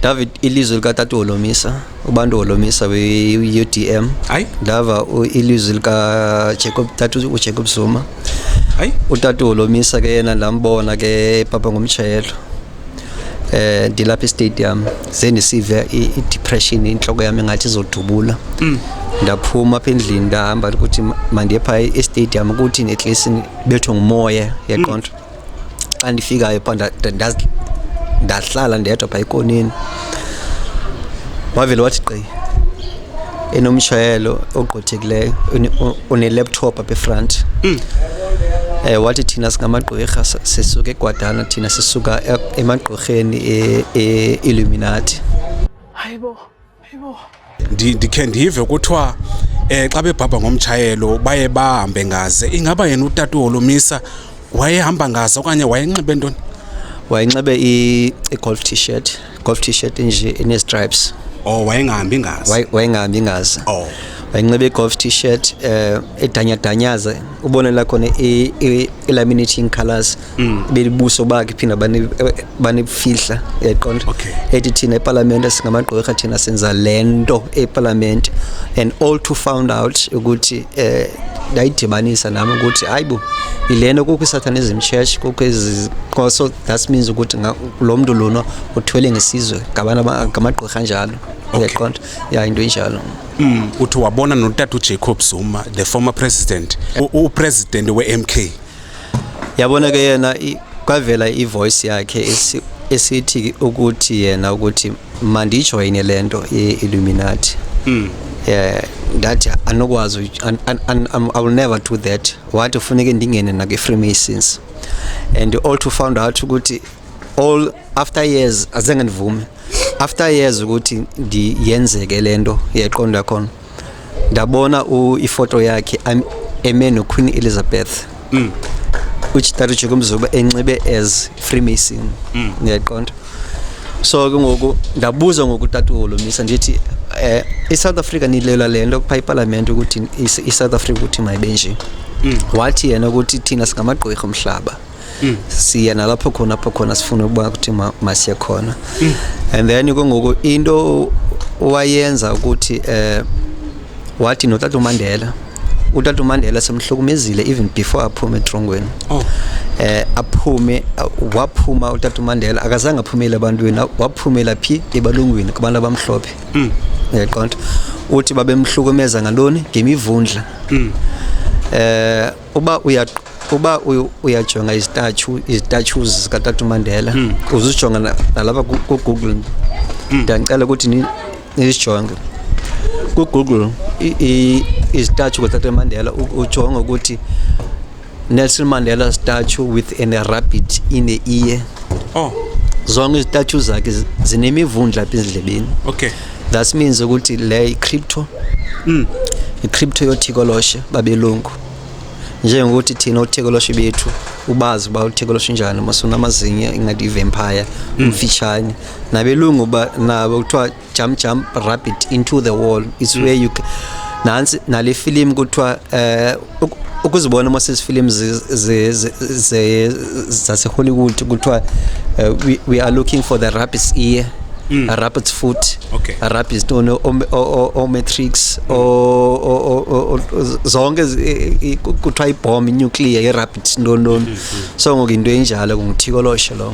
David ilizwi likatata uHolomisa ubantu uHolomisa we-UDM hayi ndava ilizwi likaJacob tata uJacob Zuma hayi utata uHolomisa ke yena ndambona ke papa ngomtshayelo eh ndilapha estadium ze ndisive i-depression inhloko yami ngathi izodubula mm. ndaphuma apha endlini ndahamba ukuthi mandiye phaa estadium ukuthi at least bethwe ngumoya yaqonda mm. xa ndifikayo pha ndahlala ndedwa pha ikoneni wavele wathi qi enomshayelo ogqothekileyo uneleptop apha efront mm. eh wathi thina singamagqwirha sisuke egwadana thina sisuka e-, emagqwirheni e-, e-illuminati hayibo ndikhe ndive kuthiwa um xa bebhabha ngomtshayelo baye bahambe ngaze ingaba yena utata uholomisa wayehamba ngaze okanye wayenxibe ntoni wayenxibe i-golf t-shirt golf t-shirt nje ine-stripes oh wayengahambi ngaze wayengahambi ngaze oh wayenxibe i-golf t-shirt um eh, edanyadanyaza ubonela khona i-laminating colors mm. belibuso bakhe phinda banifihla yaqonda okay. ethi thina epalamente singamagqwirha thina senza le nto epalamente and all to found out ukuthi eh, ndayidibanisa nam ukuthi hayi bo yile nto kukho isatanism church kukho iziqoso that means ukuthi lo mntu lona uthwele ngesizwe ngamagqwirha njalo uyaqonda okay. ya into enjalo mm. uthi wabona notata ujacob zuma the former president upresident we-m k yabona ke yena kwavela ivoice yakhe esithi ukuthi yena ukuthi mandijoyine le nto ye-illuminati mm. yeah ndathi anokwazi i will never do that wathi funeke ndingene nakwi-freemasons and all to found out ukuthi all after years azenge ndivume after years ukuthi ndiyenzeke le nto yeqondo yakhona ndabona ifoto yakhe eme noqueen elizabeth mm. uchitari jikumzuba enxibe as freemason mm. ndiyayiqonda so ke ngoku ndabuza ngoku tata uholomisa ndithi eh isouth africa nilela le nto phaa ipalamente ukuthi isouth africa ukuthi mayibe nje mm. wathi yena ukuthi thina singamagqwirha umhlaba mm. siya nalapho khona apho khona sifuna ukuba kuthi masiye khona mm. and then ke ngoku into wayenza ukuthi eh wathi notata uMandela utata uMandela semhlukumezile even before aphume etrongweni oh eh aphume waphuma utata uMandela akazange aphumele abantwini waphumela phi ebalungwini kubantu abamhlophe mm. yaqonda uthi babemhlukumeza ngaloni ngemivundla mm. eh uba uya uba uyajonga izitatyu izitatshus zikatata umandela hmm. uzijonga nalapha kugoogle hmm. ndandicela ukuthi nizijonge kugoogle izitatyu kotata umandela ujonge ukuthi nelson mandela statue with an rabbit in the ear oh. zonke izitatyu zakhe zinemivundla apha ezindlebeni okay that means ukuthi le i-crypto mm. i-crypto yothikoloshe babelungu njengokuthi thina uthekoloshe bethu ubazi uba uthekoloshe njani masunamazinyo ingathi ivampire mm. umfitshane nabelungu uba nabo kuthiwa jump jump rabbit into the wall is mm. where you nantsi nale filimu kuthiwa um ukuzibona uma sezifilimu zasehollywood kuthiwa eh, we are looking for the rabbit's ear mm. a rabbit's foot okay. a rabbit's tone omatrix zonke kuthiwa ibhom inuclear irabbit ntoni ntoni mm-hmm. so ngoku into enjalo ngumthikoloshe lowo